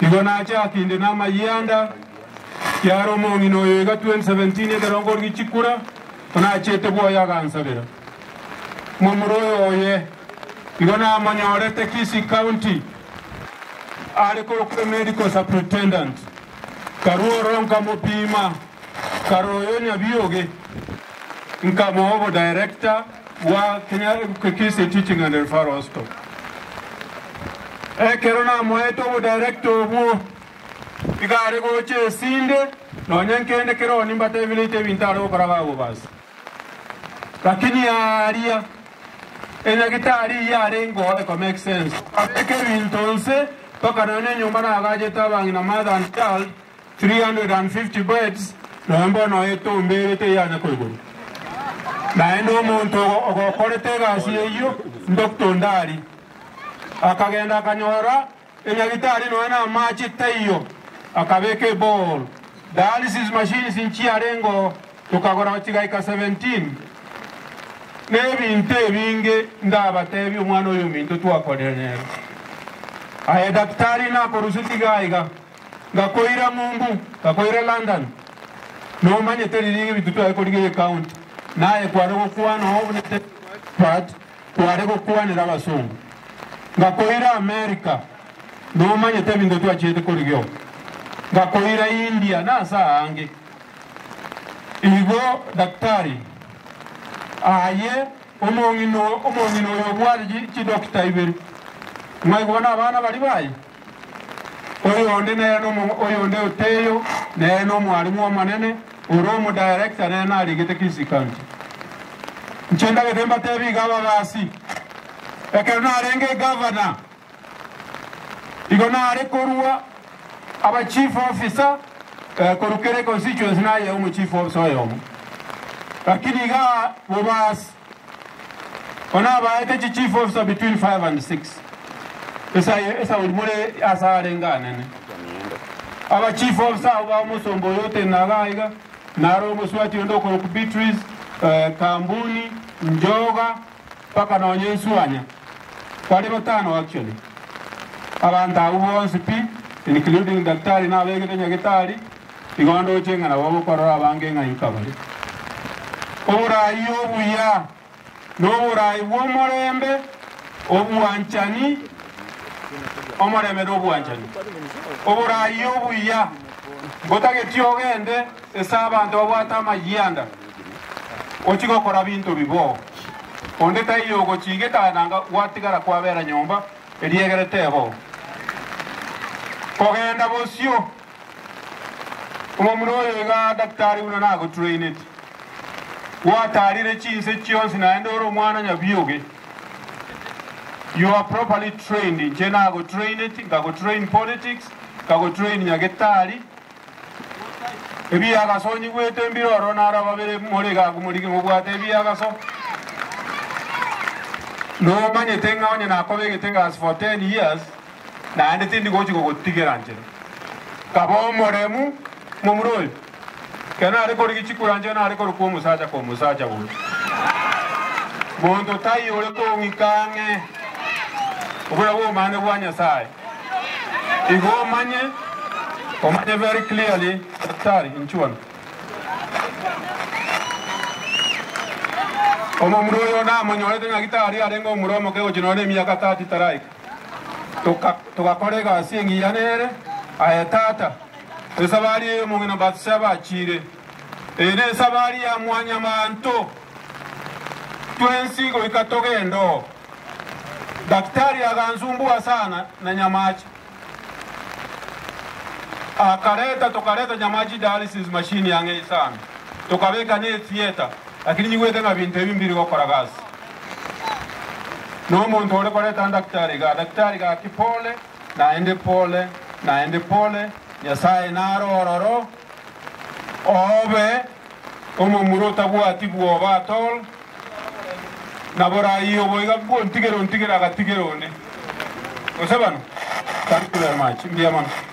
Igo nache ake inde namayie anda, kiaro omong'ina oyo iga 2017 ekero nkorigi chikura, onachete bwoye agansabera. Momura oyo oye igo namonyorete Kisii County are korokwe Medical Superintendent. Karua ororo nkamopima, karora oyo nyabioge, nkamoa obo Director. Bwa kenya ebuke kiss a teaching and referral hospital ekero namoete obodirector obwo iga are gocha esinde nonya nkende keroo nimbatebireite ebinto are gokora bagobasa lakini aaria enyagitari eye arengo eko make sense abeke ebinto nse mpaka nonya enyomba nagachete abang'ina mother and child 350 birds nonya mbono etombe ere teyanya koigurwa. Naende omonto ogokorete egasi eyio Doctor Ndari akagenda akanyora enyagitari nonya na amache taiyo akabeka eborehole dialysis machines inchiarengoo tokagora chigaika 17 nebinto ebinge ndabatebi omwana oyominto twakorire nere aye daktari nakorusia tiga aiga. Ngakoira Mumbu, ngakoira London. Nomanyete riria ebinto tware korigeria ecounty, naye kware gokwana oo buna David Weisbrot kware gokwanera abasongo. Ngakoira America, nomanyete ebinto twachiete korigeo. Ngakoira India na ase aange. Igo daktari aye omong'ina omong'ina oyo obwate chidokita ibere, ng'ai koba nabana baria baye. Oyonde nere nomo, oyonde oteyo nere nomwarimu omonene, ore omudirector nere naregete Kisii County. Inche ndagete mbatebi iga ababasi, ekero narenge eGovernor, igo nare korua aba Chief Officer eh, korwa kera econstituency nayea omoChief Officer oyomo, lakini iga bobasi Ko nabaete chi chief officer between five and six esayo esauri more ase arenge anene. Aba chief officer abo ba omosomba oyo otenaga aiga, naro omoswati onde okorokwa Beatrice, eh, Kambuni, Njoga, mpaka nonya Nswanya. Bari batano actually. Abanto abwo bonsi pi, including daktari nabegete nyagetari, Igo ndoche ng'a nabo bokorora abange ng'a inka bare. Oboraai obuya, noboraai bw'omorembe, obwanchani, omorembe nobwanchani. Oboraai obuya, ngotageti ogende ase abanto babwate amayianda, ochie gokora binto biboo. Onde taiyo ogochiigeka aye nanga gwatigara kwabera nyomba, eriegere teboo kogenda bosio. Omomura oyo iga daktari buna nagotraineti, gwatarire chinse chionsi naende ore omwana nyabioge. You are properly trained, inche nagotraineti, nkagotrain politics, nkagotrain nyagetari. Ebiagaso onyigwete mbire ororo naro ababere more iga abwo morige mobwate ebiagaso. Nomanyete ng'a onye nakobegete egasi for ten years, naende tindi gochia gogotigera nchera. Kaba omoremu, momura oyo, ekero nare korigia chikura nchera nare korokwa omosacha kwa omosacha boria. Monto taiyo ore kong'ika ang'e, obura bw'obomaene bwa Nyasaye. Igo omanye, omanye very clearly, Daktari, inche one. Omomura oyo namonyorete ng'aki tari arenge omura omoke gochia nonye na emiaka 30 taraika. toka, togakora egasi engiya nere. Aye tata, esabari eye omong'ina Bathsheba achiire, eye nesabari ya mwanyamanto, twensi goika togende oo. Daktari agansumbua sana na nyamache, akareta tokareta nyamache dialysis machine ang'ei sana, tokabeka ne theatre. Lakini nyigwete ng'a binto ebi mbiri gokora gasi nomonto ore koreta daktari iga, daktari gaki pole, naende pole, naende pole, Nyasae naro ororo, obe omomura otabwati bwoba at all, na borai obo iga bwontigera ontigera agatigera onde. Gose bano? Thank you very much, mbuya mono.